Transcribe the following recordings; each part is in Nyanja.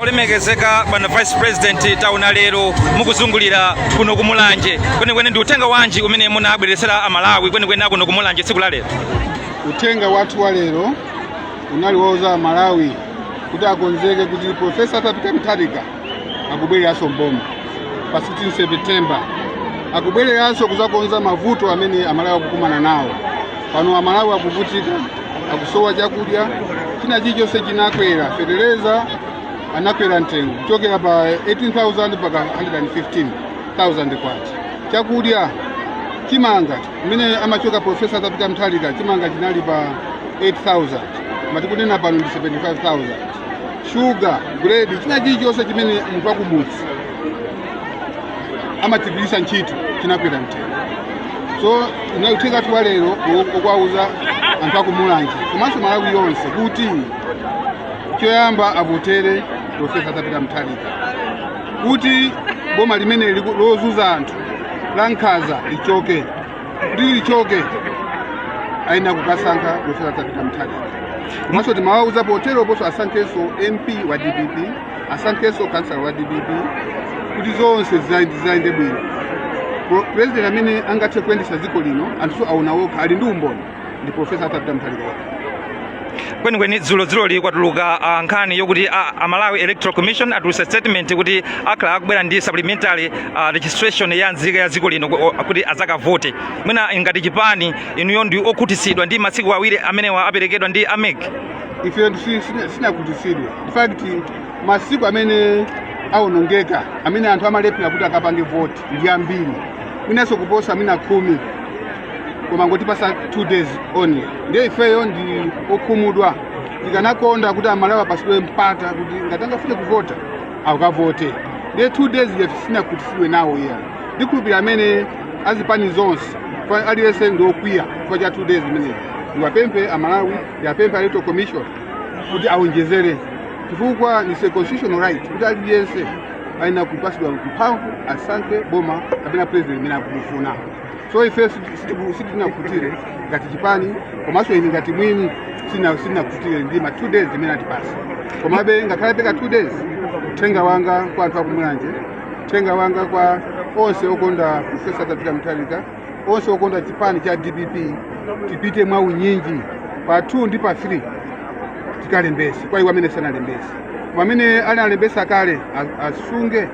olemekezeka bwana vice president taona lero mukuzungulira kuno kumulanje kwenikweni ndi uthenga wanji umene munabweretsera amalawi kwenikweni akuno kumulanje tsiku la lero uthenga wathu wa lero unali wouza amalawi kuti akonzeke kuti profesa arthur peter mutharika akubwereranso mboma pa 16 september akubwereranso kuzakonza mavuto amene amalawi akukumana nawo pano amalawi akuvutika akusowa chakudya china chilichonse chinakwera fetereza anakwera mtengo kuchokera pa 18000 mpaka 115000 kwacha chakudya chimanga mmene amachoka profesa arthur peter mutharika chimanga chinali pa 8000 mmene tikunena pano ndi 75000 shuga bread china chilichonse chimene munthu wakumudzi amagwiritsa ntchito chinakwera mtengo so uthenga wathu wa lero ukuwauza anthu akumulanje komanso malawi yonse kuti choyamba avotere profesa arthur peter mutharika kuti boma limeneli lozunza anthu la nkhanza lichoke kuti lichoke ayenera kukasankha profesa arthur peter mutharika komanso timawauza poteroponso asankhenso mp wa dpp asankhenso kansala wa dpp kuti zonse zizayende bwino purezidenti amene angathe kuyendetsa dziko lino anthu aona okha ali ndi umboni ndi profesa arthur peter mutharika okha kwenikweni dzulodzuloli kwatuluka ah, nkhani yokuti ah, a malawi electoral commission atulutsa statement kuti akhala akubwera ndi supplementary ah, registration ya nzika ya dziko lino ku- o- kuti adzakavote mwina ngati chipani inuyo ndi okhutitsidwa ndi masiku awiri amenewa aperekedwa ndi amec ife si- sina- sinakhutitsidwe in fact masiku amene awonongeka amene anthu amalephera kuti akapange voti ndi ambiri mwinanso kuposa mwina khumi koma angotipatsa two days only ndiye ifeyo ndi okhumudwa tikanakonda kuti amalawi apatsidwe mpata kuti ngati angafune kuvota akavote ndiye two days ife sitinakhutitsidwe nawo iya ndikhulupirira amene azipani zonse aliyense ndi okwiya chifukwa cha two days imeneyi ndiwapemphe amalawi ndiwapemphe electoral commission kuti aonjezere chifukwa ni constitutional right kuti aliyense ayenera kupatsidwa mphamvu asankhe boma kapena president amene akumufuna so ife sitinakhutire ngati chipani komanso ine ngati mwini sina- sitinakhutire ndi ma two days imene atipatsa komabe ngakhale apereka two days uthenga wanga kwa anthu akumulanje uthenga wanga kwa onse okonda profesa arthur peter mutharika onse okonda chipani cha dpp tipite mwa unyinji pa 2 ndi pa 3 tikalembese kwa iwo amene sanalembese koma amene analembesa kale a- asunge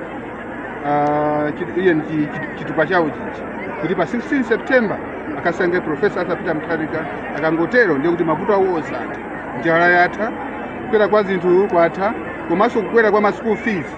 ah, chit- iye ndi chit- chitupa chawo chichi kuti pa 16 september akasankhe profesa arthur peter mutharika akangotero ndiye kuti mavuto awo onse atha njala yatha kukwera kwa zinthu kwatha komanso kukwera kwa ma school fees